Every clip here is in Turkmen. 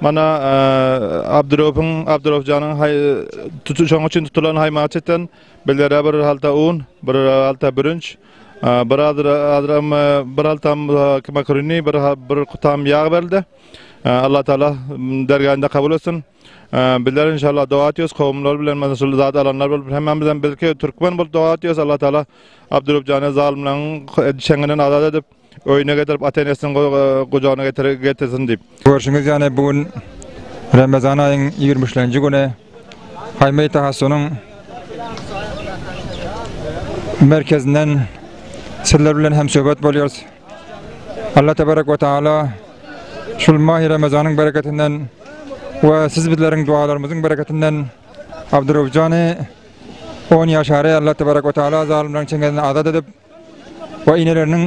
Mana Abdurofyň, Abdurofjanyň haý tutu şoň üçin tutulan haýmaçydan bilere bir halta un, bir halta bürünç, bir azra azram bir haltam makarini, bir bir kutam ýag berildi. Allah taala dergähinde kabul etsin. Bizler inşallah doga etýäs, kowumlar bilen mana şul zat alanlar bolup hemmämizem birki türkmen bolup doga etýäs. Allah taala Abdurofjany zalymlaryň çeňinden azat edip, Öýüne getirip ata-enesiniň gujagyna getirsin diýip. Görşüňiz ýaly bu gün Ramazan aýyň ýigrimi üçlenji güni Haýmeý Tahasynyň merkezinden sizler bilen hem söhbet bolýarys. Allah tebarek we taala şul mahy Ramazanyň bereketinden we siz bizleriň dualarymyzyň bereketinden Abdurrahjany 10 ýaşary Allah tebarek we taala zalymlaryň çengesinden azat edip We eneleriniň,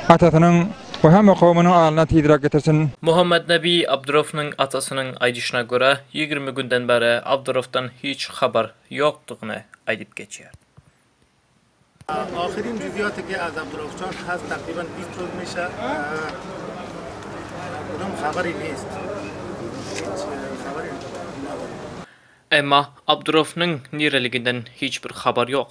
atasynyň we hemme kowumynyň alyna tizräk getirsin. Muhammetnebi Abdurownyň atasynyň aýdyşyna görä, ýigrimi günden bäri Abdurowdan hiç habar ýokdugyny aýdyp geçýär. Ahyrin juzýatyky az Abdurowçan has takryban biz çözmüşa bunam habar ýest. Hiç habar ýok. Emma Abdurownyň nireliginden hiç bir habar ýok.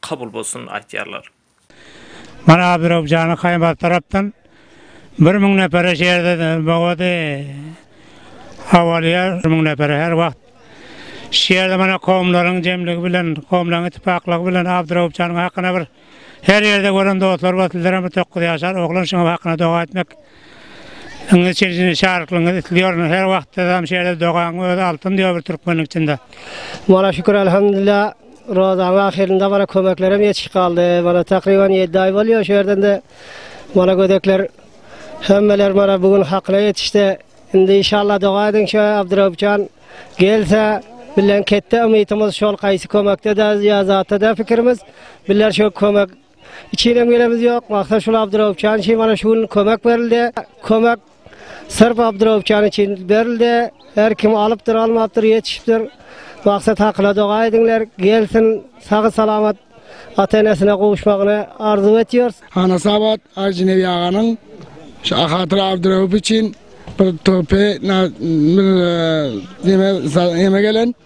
kabul bolsun aýtýarlar. Mana Birowjanyň Haýbat tarapdan bir müň nepere şerde bogady Awalýar bir müň nepere her wagt şerde mana kowumlaryň jemligi bilen kowumlaryň itipaklygy bilen Abdyrowupjanyň hakyna bir her ýerde gören dostlar bar sizlerem bir dokuz ýaşar oglan şuňam hakyna doga etmek indi çirjini şaryklygyňyz islýor her wagt sizem şerde dogaň özi altyn diýo bir türkmeniň içinde. Mana şükür Elhamdulillah. Rozanyň ahyrynda mana kömeklerem ýetişip galdy. Mana takryban ýedi aý bolýar şu ýerden-de mana gödekler hemmeler mana bu gün hakyna ýetişdi. Indi inşallah doga ediň şu Abdyraup jan gelse bilen ketde umytymyz şol gaýsy kömekde-de ýa zatda-da pikirimiz. Biler şu kömek içinem gelemiz ýok. Maksat şul Abdyraup jan şi mana şu gün kömek berildi. Kömek Syrp Abdurowkany üçin berildi. Her kim alypdyr, almapdyr, ýetişipdir. Maksat hakyna doga ediňler, gelsin, sagy salamat ata-enesine gowuşmagyny arzuw etýäris. Anasabat Ajynebi aganyň şu Ahatyra Abdurowow üçin bir töhpe, bir neme, neme gelen.